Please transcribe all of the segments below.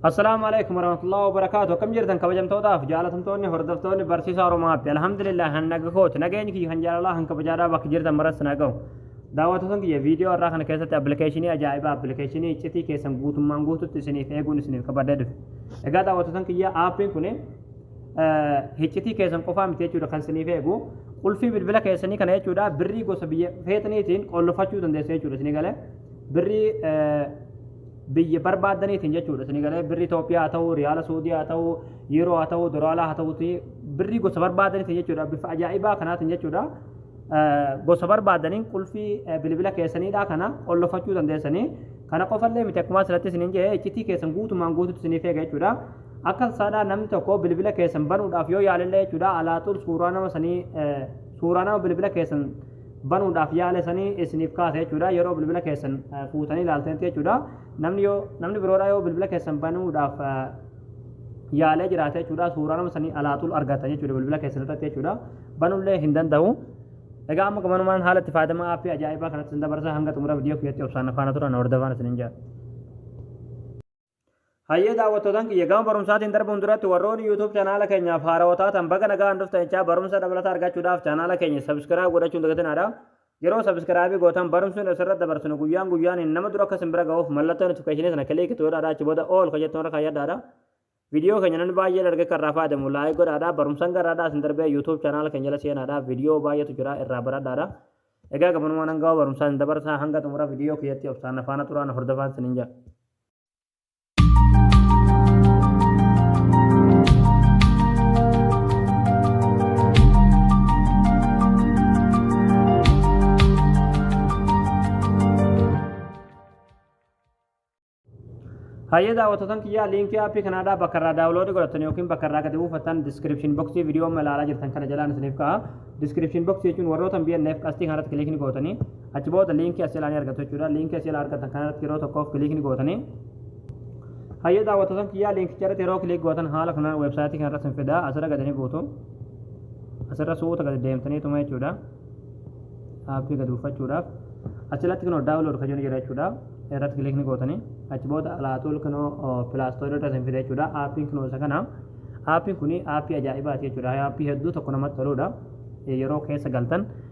Assalaamu alaikum warahmatullahi wabarakaatu akkam jirtan kabajamtootaaf jaalatamtoonni hordoftoonni barsiisaa Oromaatti alhamdulillah kan naga kooti nageenyi kiyya kan jaalalaa kan kabajaadhaa bakka jirtan maratti na ga'u daawwattoota kiyya viidiyoo irraa kana keessatti appilikeeshinii ajaa'ibaa appilikeeshinii iccitii keessan guutummaan guututti isiniif eeguun isiniif kabadee dhufe egaa daawwattoota kiyya aappiin kun iccitii keessan qofaa miti jechuudha kan isiniif eegu qulfii bilbila keessanii kana jechuudha birrii gosa biyya feetaniitiin qollofachuu dandeessu jechuudha isinii galee birrii biyya barbaadaniitiin jechuudha isin galee birrii Itoophiyaa haa ta'u riyaala Suudii haa ta'u yeroo haa ta'u doraalaa haa ta'uti birrii gosa barbaadaniitiin jechuudha bifa ajaa'ibaa kanaatiin jechuudha gosa barbaadaniin qulfii bilbila keessaniidha kana qollofachuu dandeessanii kana qofallee miti akkuma asirratti isiniin jedhe iccitii keessan guutumaan guututti isiniif eega jechuudha akka saadhaa namni tokko bilbila keessan banuudhaaf yoo yaalillee jechuudha alaaxuun suuraa nama sanii suuraa nama bilbila keessan banuudhaaf yaala sanii isiniif kaasa jechuudha yeroo bilbila keessan fuutanii ilaaltanitti jechuudha namni yoo namni biroodha yoo bilbila keessan banuudhaaf yaalee jiraate jechuudha suuraa nama sanii alaatul argatan jechuudha bilbila keessan irratti jechuudha banullee hin danda'u egaa amma gamanumaan haala itti fayyadama aappii ajaa'ibaa kanatti sin dabarsa hanga xumura viidiyoo kiyyatti obsaan afaana turan hordofaan isinin jaa Hayyee daawwattootan kiyya gama barumsaatiin darbuun duratti warroonni YouTube chanaala keenyaaf haarawa taatan baga nagaan dhuftan jechaa barumsa dabalata argachuudhaaf chanaala keenya subscribe godhachuun dagatinaadha. Yeroo subscribe gootan barumsni asirratti dabarsinu guyyaan guyyaaniin nama dura akka isin bira ga'uuf mallattoo notification sana click itti godhaadha achi booda all kan jettu irra kayyadhaadha. Viidiyoo keenya namni baay'een arge kan irraa fayyadamu like godhaadha. Barumsan garaadhaa isin darbee YouTube chanaala keenya jala seenaadha. Viidiyoo baay'eetu jira irraa baradhaadha. Egaa gabanumaan hanga barumsaa isin dabarsaa hanga xumura viidiyoo keessatti obsaan afaana turaan hordofaan isin hin jaa. Hayyee daawwattoota kiyyaa liinkii aappii kanaadhaa bakka irraa daawuloodii godhattan yookiin bakka irraa gadi buufattan diskiripshin boksii viidiyoo amma ilaalaa jirtan kana jalaan isiniif ka'a. Diskiripshin boksii jechuun warroota BNF qastii kanarratti kiliikni gootanii Achi booda liinkii as jalaa ni argattu jechuudha. Liinkii as jalaa argattan kana irratti yeroo tokkoof kiliikni gootanii hayyee daawwattoota kiyyaa liinkicha irratti yeroo kiliik gootan haala kanaan weebsaayitii kana irratti hin fidaa asirra gadi ni buutu. Asirra suuta gadi deemtaniituma jechuudha. Aappii gadi buufachuudhaaf asirratti kunoo daawunlood kan jennu jira jechuudha. Irratti kiliikni gootanii achi booda alaatuul kunoo pilaastoorii irratti hin fida jechuudha. Aappiin kunoo isa kana. Aappiin kun aappii ajaa'ibaati jechuudha. Aappii hedduu tokko namatti toludha. Yeroo keessa galtan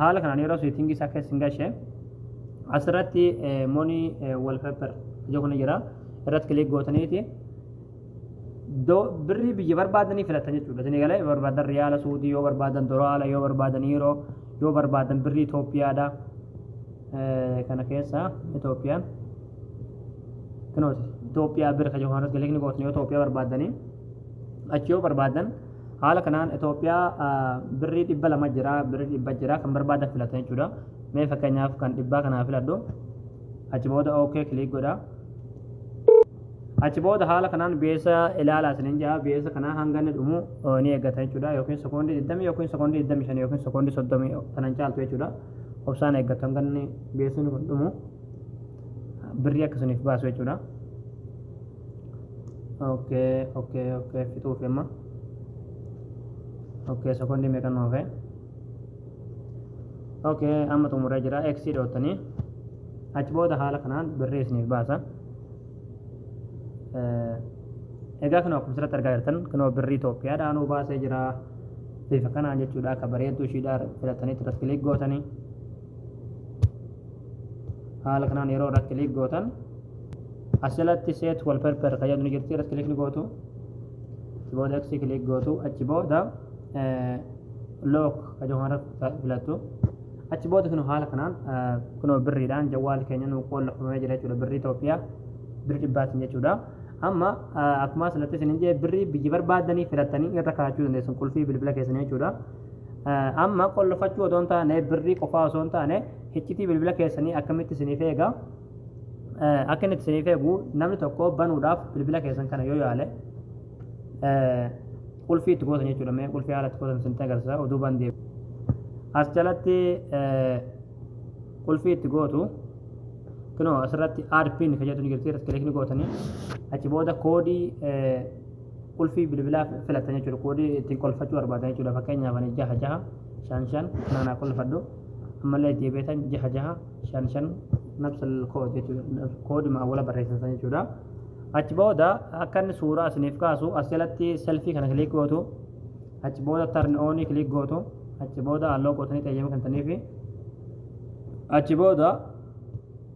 haala kanaan yeroo seetingii isaa keessa hin gashe asirratti monii wallpaper ija kun jira irratti kilik gootaniiti birrii biyya barbaadanii filatan jechuudha isin egalee yoo barbaadan riyaala suudii yoo barbaadan doraala yoo barbaadan yiiroo yoo barbaadan birrii Itoophiyaadha kana keessa Itoophiyaan kinooti Itoophiyaa birrii kan jiru kanarratti kilik ni gootanii yoo Itoophiyaa barbaadanii achi yoo barbaadan Haala kanaan Itoophiyaa birrii dhibba lama jira, birrii dhibba jira kan barbaadan filatu jechuudha. Mee fakkeenyaaf kan dhibbaa kanaa filadhu. Achi booda OK kiliik godha. Achi booda haala kanaan beessa ilaalaa isinin jaa beessa kanaa hanga inni dhumu ni eeggata jechuudha yookiin sekoondii 20 yookiin sekoondii 25 yookiin sekoondii 30 kanan caaltu jechuudha. Obsaan eeggatu hanga inni beessi kun dhumu birrii akkasiniif baasu jechuudha. okay okay okay fixuuf amma okay sekondi meeqa nu hafe okay amma xumuree jira x dhootanii achi booda haala kanaan birrii isiniif baasa Eh, egaa kan akkuma asirratti argaa jirtan kan birrii Itoophiyaadhaan nu baasee jira bifa kanaan jechuudha akka bareedduu ishiidhaa filattanii irratti kilik gootanii haala kanaan yeroo irratti kiliik gootan asirratti seet wal perper kan jedhu ni jirti irratti kiliik ni gootu booda eksii kiliik gootu achi booda look kan jedhu kanarra filattu achi booda kun haala kanaan kunoo birriidhaan jawwaal keenya nuu qoollafamee jira jechuudha birrii Itoophiyaa birrii dhibbaatiin jechuudha. Amma akkuma asirratti isin hin jee birrii biyya barbaadanii filattanii irra kaa'achuu dandeessan qulfii bilbila keessanii jechuudha. Amma qollofachuu otoo hin taane birrii qofaa osoo hin taane hiccitii bilbila keessanii akkamitti isiniif eega akka inni isiniif eegu namni tokko banuudhaaf bilbila keessan kana yoo yaale qulfii itti gootan jechuudha mee qulfii haala itti gootan isinitti agarsiisa oduu bandee as jalatti qulfii itti gootu kunoo asirratti aad pin kan jedhu ni jirti irratti kilikni gootanii achi booda koodii qulfii bilbilaa filattan jechuudha. Koodii ittiin qolfachuu barbaadan jechuudha. Fakkeenyaaf ani jaha jaha shan shan kanaan haa qolfadhu. Ammallee itti beetan jaha jaha shan shan nabsal kood jechuudha. Koodii maawwala barreessan san jechuudha. Achi booda akka inni suuraa isiniif kaasu as jalatti selfii kana kiliik gootu. Achi booda tarni oonii kiliik gootu. Achi booda halloo gootanii xeeyyama kennitaniifi. Achi booda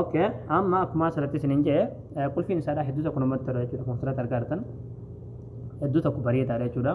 ok amma akkuma asirratti isin hin jee qulfiin isaadha hedduu tokko namatti tola jechuudha konsirat argaartan hedduu tokko bareedaadha jechuudha